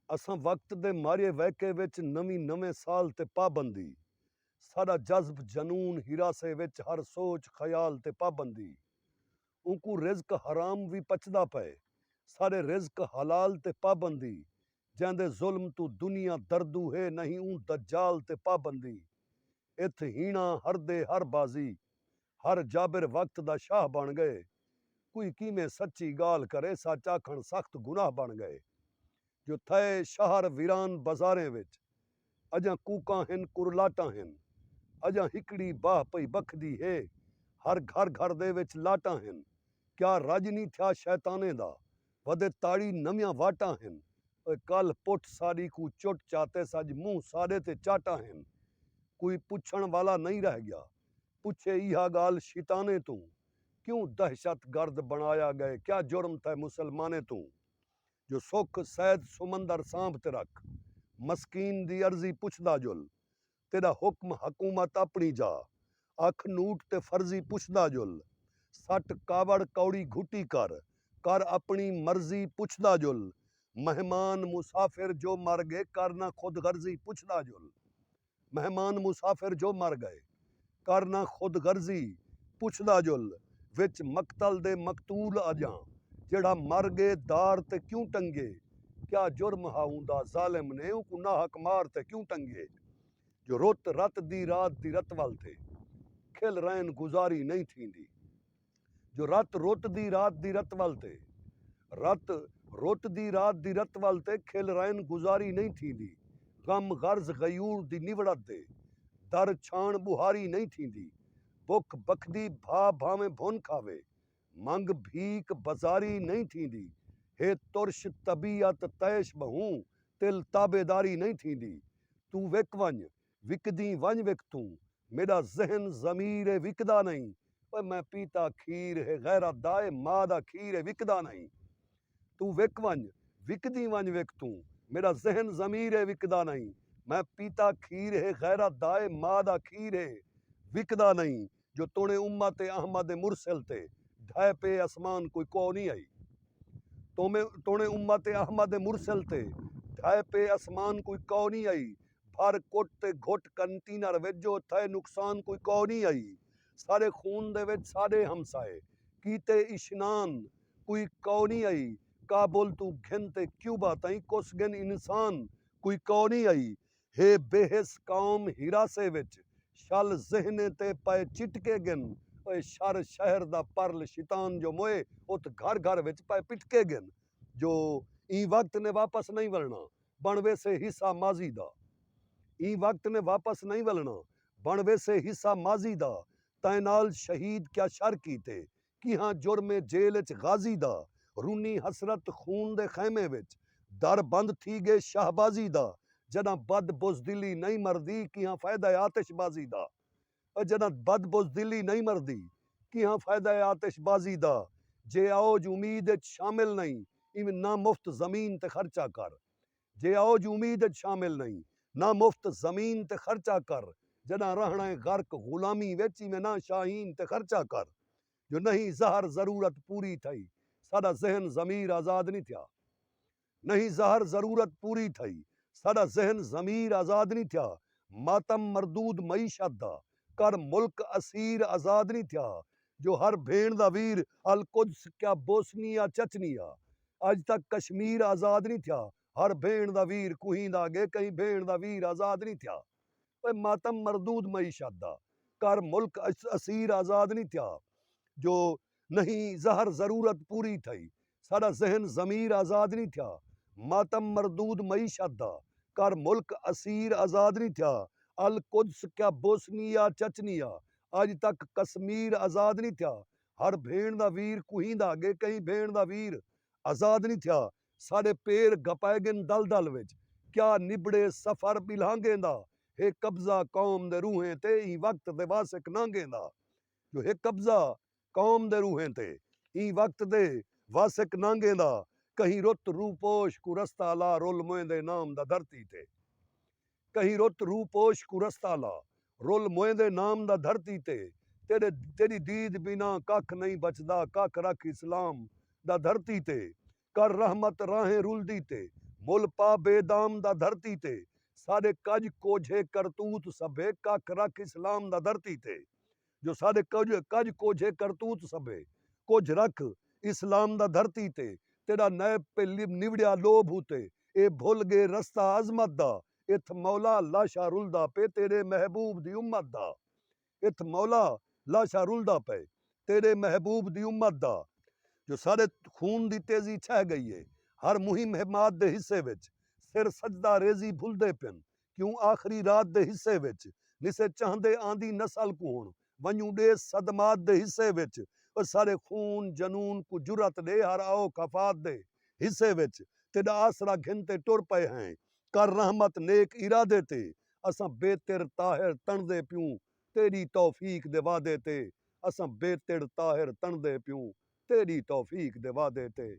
اساں وقت دے مارئے ویکئے وچ نویں نویں سال تے پابندی ساڈا جذب جنون ہراسے وچ ہر سوچ خیال تے پابندی اونکوں رزق حرام وی پچدا پئے ساڈے رزق حلال تے پابندی جیندے ظلم توں دنیا دردو ہے نہیں اوں دجال تے پابندی اتھ ہینا ہردے ہر بازی ہر جابر وقت دا شاہ بݨ ڳئے کوئی کیویں سچی ڳالھ کرے سچ آکھݨ سخت گناہ بݨ ڳئے جو تھئے شہر ویران بزاریں وچ اڄاں کوکاں ہن کرلاٹاں ہن اڄاں ہکڑی باہ پئی بکھدی ہے ہر گھر گھر دے وچ لاٹاں ہن کیا رڄ نی تھیا شیطانیں دا ودے تاڑی نویاں واٹاں ہن اوئے کلھ پٹھ ساݙی کوں چٹ چاتیس اڄ منہ ساݙے تے چاٹاں ہن کوئی پچھݨ والا نئیں رہ ڳیا پچھے ایہا گالھ شیطانیں توں کیوں دہشت گرد بنڑایا گئے کیا جرم تھئے مسلمانیں توں جو سکھ سید سمندر سانبھ تے رکھ مسکین دی عرضی پچھدا جل تیڈا حکم حکومت اپنڑی جا اکھ نوٹ تے فرضی پچھدا جل سٹ کاوڑ کوڑی گھٹی کر کر اپنڑی مرضی پچھدا جل مہمان مسافر جو مر گئے کر نہ خود غرضی پچھدا جل۔ مہمان مسافر جو مر گئے کر نہ خود غرضی پچھدا جل وچ مقتل دے مقتول اجاں جیڑھا مر گے دار تے کیوں ٹنگے کیا جرم ہا اوندا ظالم نے اونکوں ناحق مار تے کیوں ٹنگے جو رت رت دی رات دی رتول تے کھل رئن گزاری نئیں تھیندی۔ جو رت رت دی رات دی رت ول تے رت رت دی رات دی رت ول تے کھل رائن گزاری نئیں تھیندی غم غرض غیور دی نوڑت دے در چھاݨ ٻوہاری نئیں تھیندی بکھ بکھدی بھا بھانویں بھن کھاوے منگ بھیک بزاری نئیں تھیندی ہے ترش طبیعت طیش ٻہوں تل تابعداری نئیں تھیندی توں وک ونڄ وکدیں ونج وک توں میڈا ذہن ضمیر اے وکدا نئیں اوئے میں پیتا کھیر ہے غیرت دا اے ماء دا کھیر اے وکدا نئیں توں وک ونج وکدیں ونج وک توں میڈا ذہن ضمیر اے وکدا نئیں میں پیتا کھیر ہے غیرت دا اے ماء دا کھیر ہے وکدا نئیں جو توݨے امت احمد مرسل تے ڈھہہ پئے اسمان کوئی کوہ نی ہئی توݨے امت احمد مرسل تے ڈھہہ پئے اسمان کوئی کوہ نی ہئی بھر کٹ تے گھٹ کنٹینر وچ جو تھئے نقصان کوئی کوہ نی ہئی سارے خون دے وچ ساݙے ہمسائے کیتے اشنان کوئی کوہ نی ہئی کابل توں گھن تے کیوبا تائیں کس گھن انسان کوئی کوہ نی ہئی ہے بے حس قوم ہراسے وچ شل ذہنیں تے پئے چٹکے گن اے شر شہر دا پرل شیطان جو موئے ات گھر گھر وچ پئے پٹکے گن جو ایں وقت نے واپس نئیں ولنا بن ویسے حصہ ماضی دا ایں وقت نے واپس نئیں ولنا بن ویسے حصہ ماضی دا تیں نال شہید کیا شر کیتے کیہاں جرم اے جیل اچ غازی دا رنی حسرت خون دے خیمے وچ در بند تھی گے شہبازی دا جڈاں بد بزدلی نئیں مردی کیہاں فائدہ اے آتش بازی دا او جڈاں بد بزدلی نئیں مردی کیہاں فائدہ اے آتش بازی دا جے اوج امید اچ شامل نئیں ایویں نہ مفت زمین تے خرچہ کر جے اوج امید اچ شامل نئیں نہ مفت زمین تے خرچہ کر جڈاں رہنڑاں اے غرق غلامی وچ ایویں نہ شاہین تے خرچہ کر جو نہیں زہر ضرورت پوری تھئی ساڈا ذہن ضمیر آزاد نی تھیا نہیں زہر ضرورت پوری تھئی ساڈا ذہن ضمیر آزاد نی تھیا ماتم مردود معیشت دا کر ملک اسیر آزاد نی تھیا جو ہر بھیݨ دا ویر القدس کیا بوسنیا چچنیا اڄ تک کشمیر آزاد نی تھیا ہر بھیݨ دا ویر کوہیں دا اڳے کہیں بھیݨ دا ویر آزاد نی تھیا اوئے ماتم مردود معیشت دا کر ملک اسیر آزاد نی تھیا جو نہیں زہر ضرورت پوری تھئی ساڈا ذہن ضمیر آزاد نہیں تھیا ماتم مردود معیشت دا کر ملک اسیر آزاد نہیں تھیا القدس کیا بوسنیا چچنیا اج تک کسمیر آزاد نہیں تھیا ہر بھینڑ دا ویر کوہیندا اگے کہیں بھینڑ دا ویر آزاد نہیں تھیا ساڈے پیر گھپائے گن دلدل وچ کیا نبڑے سفر ٻلہانگیں دا ہے قبضہ قوم دے روحیں تے ایں وقت دے واسک نانگیں دا جو ہک قبضہ قوم دے روحیں تے ایں وقت دے واسک نانگیں دا کہیں رت روپوش کوں رستہ الا رول موئیں دے نام دا دھرتی تے کہیں رت روپوش کوں رستہ الا رول موئیں دے نام دا دھرتی تے تیڈے تیڈی دید بینا ککھ نئیں بچدا ککھ رکھ اسلام دا دھرتی تے کر رحمت راہیں رلدی تے مل پا بے دام دا دھرتی تے ساڈے کج کوجھے کرتوت سبھے ککھ رکھ اسلام دا دھرتی تے جو ساڈے کج کوجھے کرتوت سبھے کجھ رکھ اسلام دا دھرتی تے تیڈا نیب پے نوڑیا لوبھ اتے اے بھل گے رستہ عظمت دا اتھ مولا اللہ شاہ رلدا پے تیڈے محبوب دی امت دا اتھ مولا لاشاں رلدا پئے تیڈے محبوب دی امت دا جو ساڈے خون دی تیزی چھہ گئی اے ہر مہم حماد دے حصے وچ سر سجدہ ریزی بھلدے پن کیوں آخری رات دے حصے وچ نسے چاہندے آندی نسل کوں ہن ونجوں ڈیس صدمات دے حصے وچ او ساڈے خون جنون کوں جرات ڈے ہر آؤ خفات دے حصے وچ تیڈا آسرا گھن تے ٹر پئے ہیں کر رحمت نیک ارادے تے اساں بیتڑ طاہر تݨدے پیوں تیݙی توفیق دے وعدے تے اساں بیتڑ طاہر تݨدے پیوں تیݙی توفیق دے وعدے تے۔